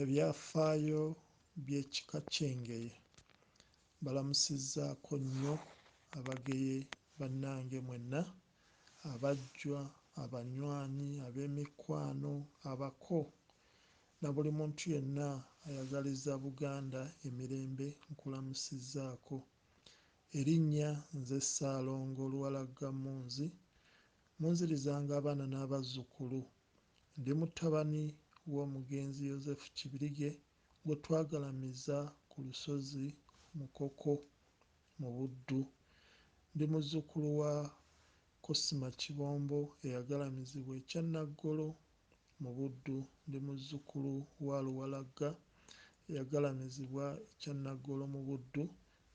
Ebyafaayo by'ekika ky'engeye mbalamusizzaako nnyo abageye bannange mwenna, abajjwa, abanywanyi, ab'emikwano, abako na buli muntu yenna ayagaliza Buganda emirembe nkulamusizzaako. Erinnya nze Ssaalongo Luwalagga Munzi, munzirizanga abaana n'abazzukulu Ndi mutabani w'omugenzi Yozefu Kibirige gwe twagalamiza ku lusozi Mukoko mu Buddu. Ndi muzzukulu wa Cosima Kibombo eyagalamizibwa e Kyannaggolo mu Buddu. Ndi muzzukulu wa Luwalagga eyagalamizibwa e Kyannaggolo mu Buddu.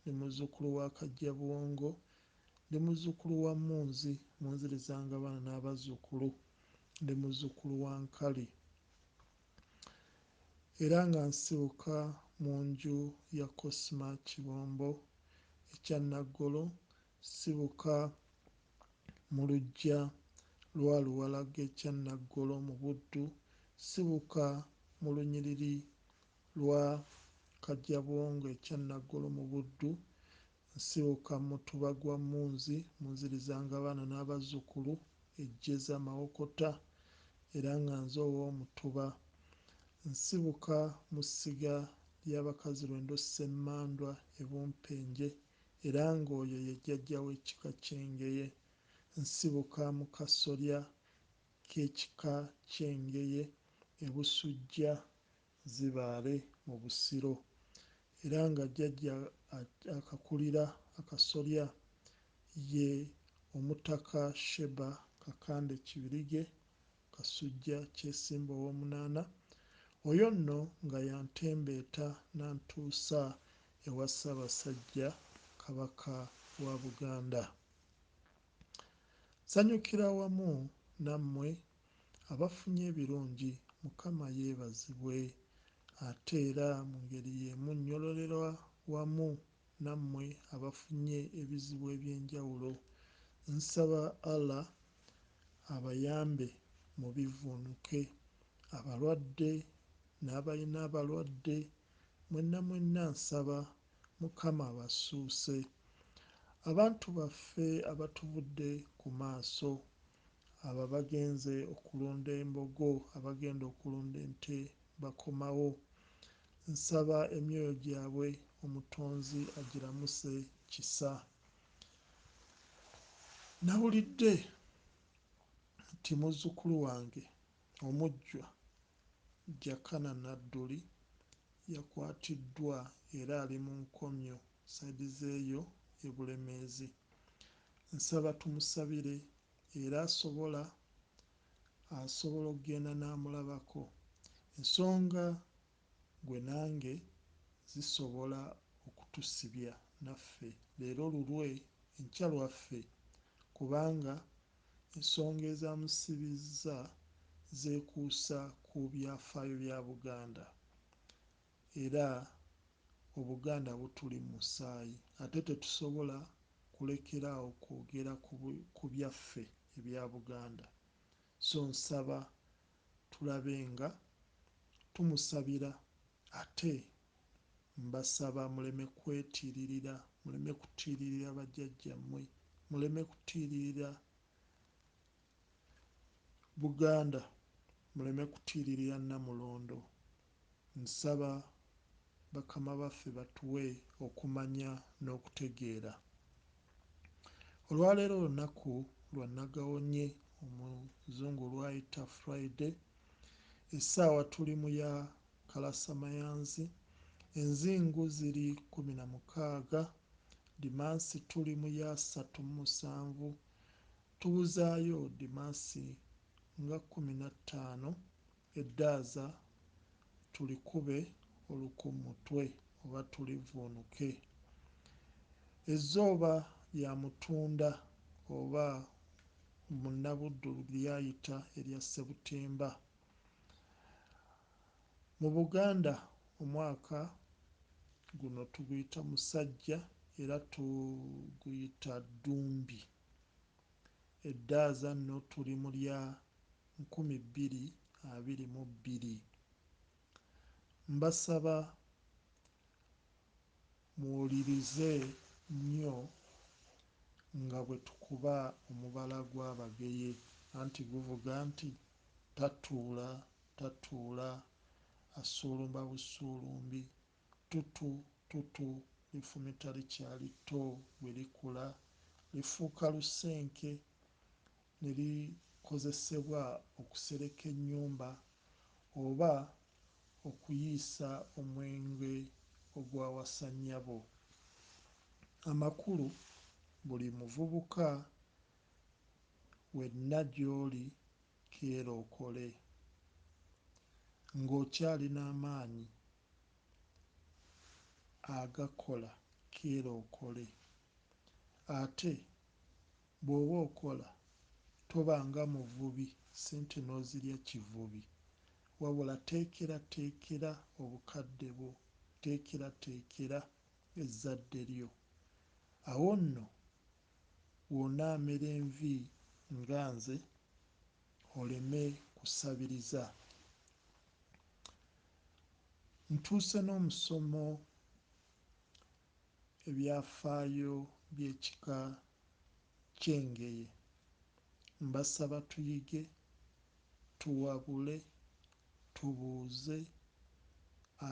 Ndi muzzukulu wa Kajjabuwongo Ndi muzzukulu wa Munzi, Munziriza nga baana n'abazzukulu. Ndi muzzukulu wa Nkali era nga nsibuka mu nju ya Cosma Kibombo e Kyannaggolo. Sibuka mu luggya lwa Luwalage e Kyannaggolo mu Buddu. Sibuka mu lunyiriri lwa Kajjabwongo e Kyannaggolo mu Buddu. Nsibuka mutuba gwa Munzi munzirizanga abaana n'abazzukulu e Jjeza, Mawokota era nga nze ow'omutuba. Nsibuka mu ssiga lya Bakazirwendo Ssemmandwa e Bumpenje era ng'oyo ye jjajja w'ekika ky'Engeye. Nsibuka mu kasolya k'ekika ky'Engeye e Busujja Zibaale mu Busiro era nga jjajja akakulira akasolya ye Omutaka Sheba Kakande Kibirige Kasujja Kyesimba Owoomunaana, oyo nno nga y'antembeeta n'antuusa ewa Ssaabasajja Kabaka wa Buganda. Nsanyukira wamu nammwe abafunye ebirungi mukama yebazibwe ate era mungeri yemu nyololera wamu namwe abafunye ebizibu ebyenjawulo nsaba Allah abayambe mubivunuke abalwadde nabalina abalwadde mwena mwena nsaba mukama abasuuse abantu baffe abatuvudde kumaaso Abo abagenze okulunda embogo, abagenda okulunda ente bakomawo. Nsaba emyoyo gyabwe omutonzi agiramuse kisa. Nawulidde nti muzzukulu wange omujjwa Jakana Nadduli yakwatiddwa era ali mu nkomyo side zeeyo e Bulemeezi. Nsaba tumusabire era asobola asobola okugenda namulabako ensonga gwe nange zisobola okutusibya naffe leero lulwe enkya lwaffe kubanga ensonga ezamusibizza zekuusa ku byafaayo bya Buganda era Obuganda butuli mu musaayi ate tetusobola kulekera awo kwogera ku byaffe ebya Buganda so nsaba tulabe nga tumusabira ate mbasaba muleme kwetiiririra, muleme kutiiririra bajjajjammwe, muleme kutiiririra Buganda, muleme kutiiririra Nnamulondo Nsaba bakama baffe batuwe okumanya n'okutegeera. Olwaleero lunaku lwa nagawonye omuzungu lwayita Friday, essaawa tuli mu ya kalasamayanzi, enzingu ziri kkumi na mukaaga, dimansi tuli mu ya ssatu mu musanvu, tubuzaayo dimansi nga kkumi na ttaano Eddaaza tulikube oluku mutwe oba tulivvuunuke. Ezzooba lya Mutunda oba Munnabuddu lyayita erya Ssebutimba. Mu Buganda omwaka guno tuguyita Musajja era tuguyita Ddumbi. Eddaaza nno tuli mu lya nkumi bbiri abiri mu bbiri. Mbasaba muwulirize nnyo nga bwe tukuba omubala gwa Bageye anti guvuga nti, Tatuula, tatuula, assuulumba bussuulumbi, Tutu, tutu, lifumita likyali tto, bwe likula lifuuka lusenke. ne likozesebwa okusereka ennyumba oba okuyiisa omwenge ogwawasa nnyabo. Amakulu, Buli muvubuka wenna gy'oli keera okole ng'okyali n'amaanyi agakola keera okole ate Bwoba okola toba nga muvubi sente nozirya kivubi wabula teekera teekera obukadde bwo teekera teekera ezzadde lyo awo nno wonaamera envi nga nze oleme kusabiriza ntuuse nomusomo ebyafaayo by'ekika ky'Engeye. Mbasaba tuyige, tuwabule, tubuuze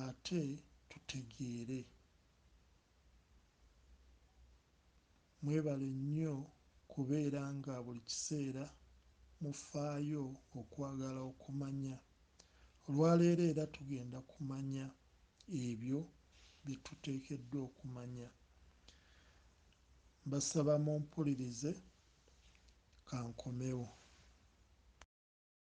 ate tutegeere. Mwebale nnyo kubeera nga buli kiseera mufaayo okwagala okumanya. Olwaleero era tugenda kumanya ebyo bye tuteekeddwa okumanya. Mbasaba mumpulirize. Ka nkomewo.